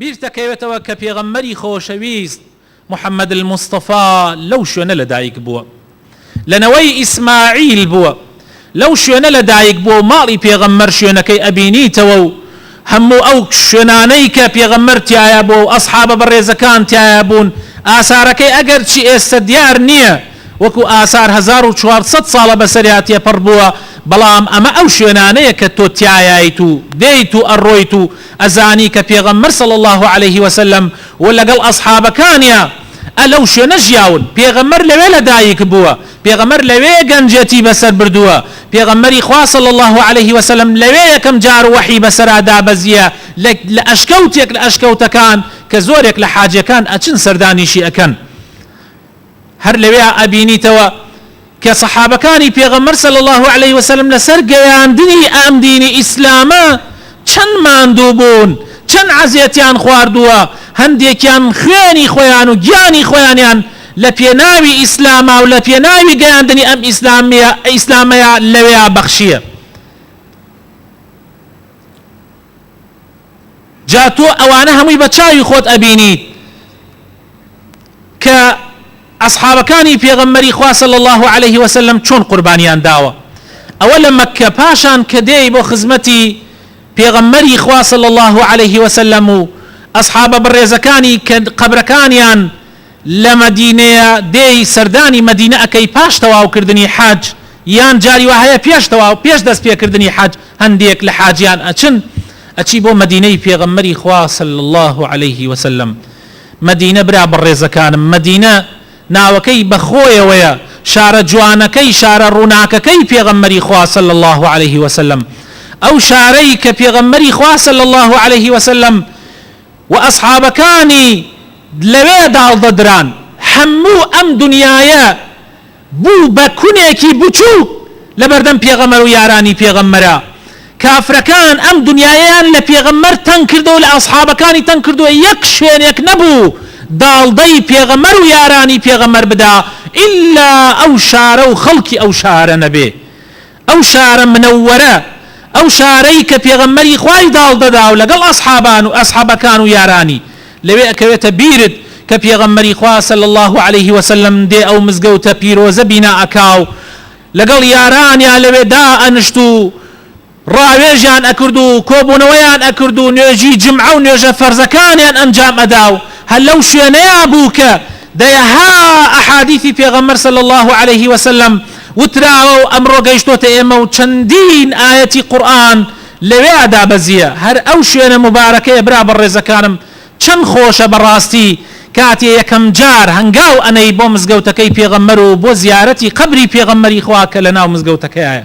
بیرتەکەوێتەوە کە پێغەمبەری خۆشەویست، محمد المصطفی، لەو شوێنە لەدایک بووە. لە نەوەی ئیسماعیل بووە. لەو شوێنە لەدایک بووە و ماڵی پێغەمبەر شوێنەکەی ئەبینیتەوە و هەموو ئەو شوێنانەی کە پێغەمبەر تیایا بووە و ئەسحابە بەڕێزەکان تیایا بوون ئاسارەکەی ئەگەرچی ئێستە دیار نییە وەکو ئاسار هەزار و چوار سەد ساڵە بەسەریا تێپەڕ بووە بەڵام ئەمە ئەو شوێنانەیە کە تۆ تیایایت و دێیت و ئەڕۆیت و ئەزانی کە پێغەمبەر صلی اللە علیە وسلم و لەگەڵ ئەسحابەکانیا ە لەو شوێنە ژیاون پێغەمبەر لەوێ لە دایک بووە پێغەمبەر لەوێ گەنجێتی بەسەر بردووە پێغەمبەری خوا صلی اللە علیە وسلم لەوێ یەکەم جار وەحی بەسەرا دابەزیە لە لە ئەشکەوتێک لە ئەشکەوتەکان کە زۆرێک لە حاجەکان ئەچن سەردانیشی ئەکەن هەر لەوێیا ئەبینیتەوە کە سەحابەکانی پێغەمبەر صلی اللە علیە وسلم لەسەر گەیاندنی ئەم دینی ئیسلامە چەند ماندوو بوون چەند عەزێتیان خواردووە هەندێکیان خوێنی خۆیان و گیانی خۆیانیان لە پێناوی ئیسلاما و لە پێناوی گەیاندنی ئەم ئیسلامە ئیسلامەیا لەوێیا بەخشیە. جا تۆ ئەوانە هەمووی بە چاوی خۆت ئەبینیت کە ئەسحابەکانی پێغەمبەری خوا صلی الله علیه و سلم چۆن قوربانیان داوە ئەوە لە مەککە پاشان کە دێی بۆ خزمەتی پێغەمبەری خوا صلی الله علیه و سلم و ئەسحابە بەڕێزەکانی کە قەبرەکانیان لە مەدینەیە دێی سەردانی مەدینە ئەکەی پاش تەواو کردنی حەج یان جاری وا هەیە پێش تەواو پێش دەست پێ کردنی حەج هەندێک لە حاجیان ئەچن ئەچی بۆ مەدینەی پێغەمبەری خوا صلی اللە علیە وسلم مەدینە برا بەڕێزەکانم مەدینە ناوەکەی بە خۆیەوەیە شارە جوانەکەی شارە ڕوناکەکەی پێغەمبەری خوا صلی اللە علیە وسلم ئەو شارەی کە پێغەمبەری خوا صلی اللە علیە وسلم و ئەسحابەکانی لەوێ داڵدە دران، هەموو ئەم دنیایە بوو بە کونێکی بچووک لەبەردەم پێغەمبەر و یارانی پێغەمبەرا، کافرەکان ئەم دنیایەیان لە پێغەمبەر تەنگ کردوە و لە ئەسحابەکانی تەنگ کردوە، یەک شوێنێک نەبوو داڵدەی پێغەمبەر و یارانی پێغەمبەر بدا ئیلا ئەو شارە و خەڵکی ئەو شارە نەبێ، ئەو شارە منەوەرە، ئەو شارەی کە پێغەمبەری خوای داڵدەدا و لەگەڵ ئەسحابان و ئەسحەبەکان و یارانی، لەوێ ئەکەوێتە بیرت کە پێغەمبەری خوا صلی اللە علیە وسلم دێ ئەو مزگەوتە پیرۆزە بینا ئەکا و لەگەڵ یارانیا لەوێ دائەنشت و ڕاوێژیان ئەکرد و کۆبوونەوەیان ئەکرد و نوێژی جمعە و نوێژە فەرزەکانیان ئەنجام ئەدا و هەر لەو شوێنەیا بوو کە دەیەها ئەحادیثی پێغەمبەر صلی اللە علیە وسلم وتراوە و ئەمڕۆ گەیشتۆتە ئێمە و چەندین ئایەتی قورئان لەوێا دابەزییە، هەر ئەو شوێنە موبارەکەیە برا بەڕێزەکانم چەند خۆشە بەڕاستی کاتێ یەکەم جار هەنگاو ئەنێی بۆ مزگەوتەکەی پێغەمبەر و بۆ زیارەتی قەبری پێغەمبەری خوا کە لەناو مزگەوتەکەیایە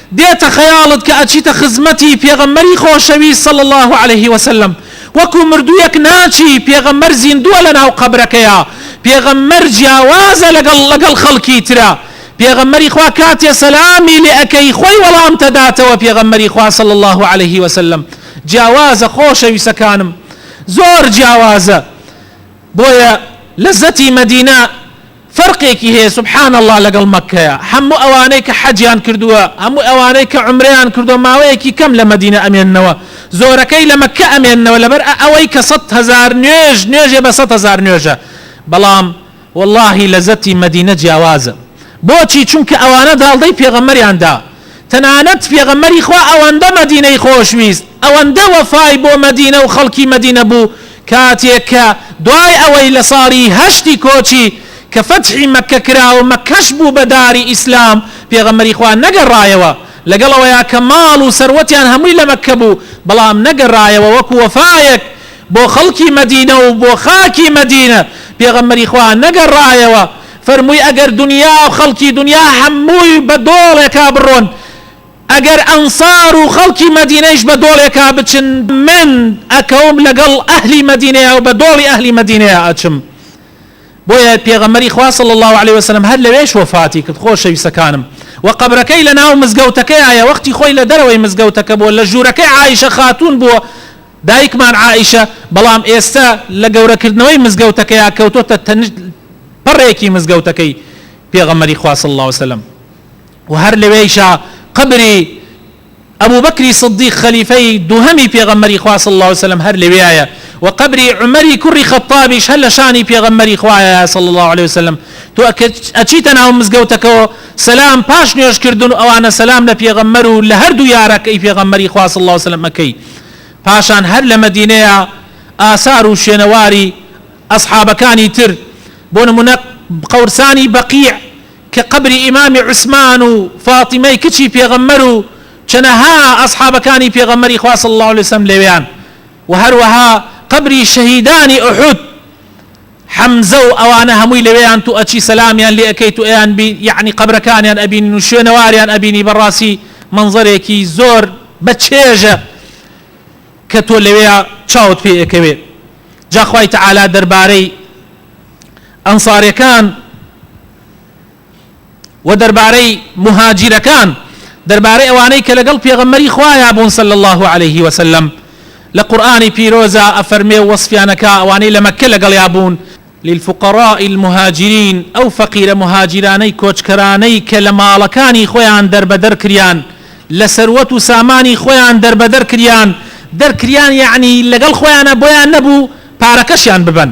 دێتە خەیاڵت کە ئەچیتە خزمەتی پێغەمبەری خۆشەویست صلی اللە علیە وسلم وەکو مردوویەک ناچی پێغەمبەر زیندووە لەناو قەبرەکەیا پێغەمبەر جیاوازە لەگەڵ لەگەڵ خەڵکی ترا پێغەمبەری خوا کاتێ سەلامی لێ ئەکەی خۆی وەڵامت ئەداتەوە پێغەمبەری خوا صلی اللە علیە وسلم جیاوازە خۆشەویستەکانم زۆر جیاوازە بۆیە لەزەتی مەدینە فەرقێکی هەیە سبحان اللە لەگەڵ مەککەیا هەموو ئەوانەی کە حەجیان کردووە هەموو ئەوانەی کە عومرەیان کردووە ماوەیەکی کەم لە مەدینە ئەمێننەوە زۆرەکەی لە مەککە ئەمێننەوە لەبەر ئە ئەوەی کە سەد هەزار نوێژ نوێژێ بە سەد هەزار نوێژە بەڵام وەڵاهی لەزەتی مەدینە جیاوازە بۆچی چونکە ئەوانە داڵدەی پێغەمبەریان دا تەنانەت پێغەمبەری خوا ئەوەندە مەدینەی خۆشویست، ئەوەندە وەفای بۆ مەدینە و خەڵکی مەدینە بوو، کاتێک کە دوای ئەوەی لە ساڵی هەشتی کۆچی، کە فەتحی مەککە کرا و مەککەش بوو بە داری ئیسلام، پێغەمبەری خوا نەگەڕایەوە، لەگەڵ ئەوەیا کە ماڵ و سەروەتیان هەمووی لە مەککە بوو، بەڵام نەگەڕایەوە وەکو وەفایەک بۆ خەڵکی مەدینە و بۆ خاکی مەدینە، پێغەمبەری خوا نەگەڕایەوە، فەرمووی ئەگەر دونیا و خەڵکی دونیا هەمووی بە دۆڵێکا بڕۆن، ئەگەر ئەنسار و خەڵکی مەدینەیش بە دۆڵێکا بچن، من ئەکەوم لەگەڵ ئەهلی مەدینەیا و بە دۆڵی ئەهلی مەدینەیا ئەچم. بۆیە پێغەمبەری خوا صلی اللە علیە و سلم هەر لەوێش وەفاتی کرد خۆشەویستەکانم. وە قەبرەکەی لە ناو مزگەوتەکەیایە وەختی خۆی لە دەرەوەی مزگەوتەکە بووە لە ژوورەکەی عائیشە خاتوون بووە، دایکمان عائیشە، بەڵام ئێستا لە گەورەکردنەوەی مزگەوتەکەیا کەوتۆتە تەنج پەڕێکی مزگەوتەکەی پێغەمبەری خوا صلی اللە وسلم و هەر لەوێیشا قەبری ئەبوبەکری صدیق خەلیفەی دووهەمی پێغەمبەری خوا صلی اللە وسلم هەر لەوێیایە و قەبری عومەری کوڕی خەتابیش هەر لە شانی پێغەمبەری خوایە صلی اللە علیە وسلم تۆ ئەچیتە ناو مزگەوتەکەوە سەلام پاش نوێژکردن و ئەوانە سەلام لە پێغەمبەر و لە هەردوو یارەکەی پێغەمبەری خوا صلی اللە وسلم ئەکەی پاشان هەر لە مەدینەیە ئاسار و شوێنەواری ئەسحابەکانی تر بۆ نموونە قەورسانی بەقیع کە قەبری ئیمامی عوسمان و فاتیمەی کچی پێغەمبەر و چەنەها ئەسحابەکانی پێغەمبەری خوا صلی اللە علیە وسلم لەوێیان و هەروەها قەبری شەهیدانی ئوحود حەمزە و ئەوانە هەمووی لەوێیان تو ئەچی سەلامیان لێ ئەکەی تو ئەیان بی یەعنی قەبرەکانیان ئەبینین و شوێنەواریان ئەبینی بەڕاسی مەنزەرێکی زۆر بە چێژە کە تۆ لەوێیا چاوت پێ ئەکەوێ جا خوای تەعالا دەربارەی ئەنساریەکان وە دەربارەی موهاجیرەکان دەربارەی ئەوانەی کە لەگەڵ پێغەمبەری خوایا بوون صلی اللە علیە وسلم لە قورئانی پیرۆزا ئەفەرمێ و وەسفیان ئەکا ئەوانەی لە مەککە لەگەڵیا بوون، للفقراء المهاجرین ئەو فەقیرە موهاجیرانەی کۆچکەرانەی کە لە ماڵەکانی خۆیان دەربەدەر کریان لە سەروەت و سامانی خۆیان دەربەدەر کریان دەرکریان یەعنی لەگەڵ خۆیانا بۆیان نەبوو پارەکەشیان ببەن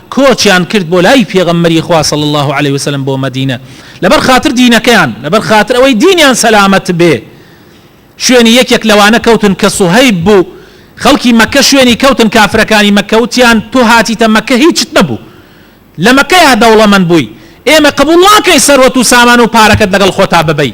کۆچیان کرد بۆ لای پێغەمبەری خوا صلی اللە علیە و سلم بۆ مەدینە لەبەر خاتر دینەکەیان لەبەر خاتر ئەوەی دینیان سەلامەت بێ شوێنی یەکێک لەوانە کەوتن کە سوهەیب بوو خەڵکی مەکە شوێنی کەوتن کافرەکانی مەکە وتیان تۆ هاتیتە مەکە هیچت نەبوو لە مەکەیا دەوڵەمەند بووی ئێمە قبوڵ ناکەین سەروەت و سامان و پارەکەت لەگەڵ خۆتا ببەی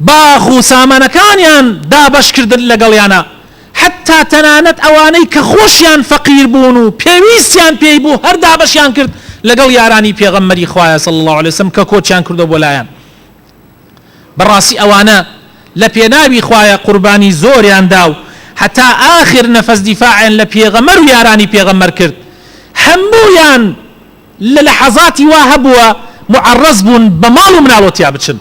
باخ و سامانەکانیان دابەش کردن لەگەڵیانا، حەتتا تەنانەت ئەوانەی کە خۆشیان فەقیر بوون و پێویستیان پێی بوو هەر دابەشیان کرد لەگەڵ یارانی پێغەمبەری خوایە صلی اللە علیە وسلم کە کۆچیان کردوە بۆ لایان بەڕاستی ئەوانە لە پێناوی خوایە قوربانی زۆریان دا و هەتا ئاخر نەفەس دیفاعیان لە پێغەمبەر و یارانی پێغەمبەر کرد هەموویان لە لەحەزاتی وا هەبووە موعەڕەز بوون بە ماڵ و مناڵ و تیا بچن،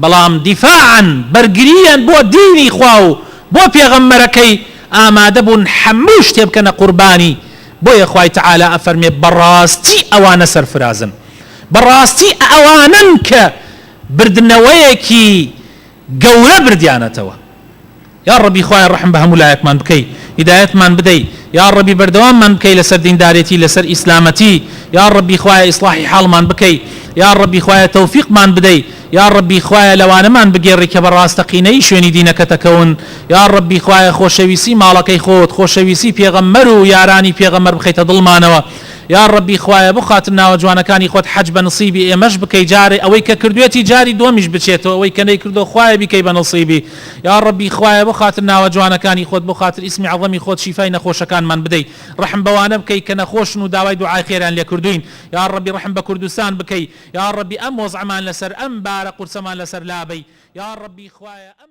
بەڵام دیفاعەن، بەرگرییان بۆ دینی خوا و بۆ پێغەمبەرەکەی، ئامادە بوون هەموو شتێ بکەنە قوربانی، بۆیە خوای تەعالا ئەفەرمێ بەڕاستی ئەوانە سەرفرازن. بەڕاستی ئەوانەن کە بردنەوەیەکی. گەورە بردیانەتەوە یاڕەبی خوایە ڕەحم بە هەموو لایەکمان بکەی هیدایەتمان بدەی یاڕەبی بەردەواممان بکەی لەسەر دیندارێتی لەسەر ئیسلامەتی یاڕەبی خوایە ئیسڵاحی حاڵمان بکەی یاڕەبی خوایە تەوفیقمان بدەی یاڕەبی خوایە لەوانەمان بگێڕی کە بە ڕاستەقینەیی شوێنی دینەکەت ئەکەون یاڕەبی خوایە خۆشەویستی ماڵەکەی خۆت خۆشەویستی پێغەمبەر و یارانی پێغەمبەر بخەیتە دڵمانەوە یاڕەبی خوایە بخاتر ناوە جوانەکانی خۆت حەج بە نسیبی ئێمەش بکەی جارێ ئەوەی کە کردوێتی جاری دوەمیش بچێتەوە ئەوەی کە نەیکردوە خوایە بیکەی بە نسیبی یاڕەبی خوایە بۆ خاتر ناوە جوانەکانی خۆت بۆ خاتر ئیسمی عەزەمی خۆت شیفای نەخۆشەکانمان بدەی ڕەحم بەوانە بکەی کە نەخۆشن و داوای دوعای خێریان لێ کردوین یاڕەبی ڕەحم بە کوردستان بکەی یاڕەبی ئەم وەزعەمان لەسەر ئەم بارە قورسەمان لەسەر لابەی یاڕەبی خوایە ئەم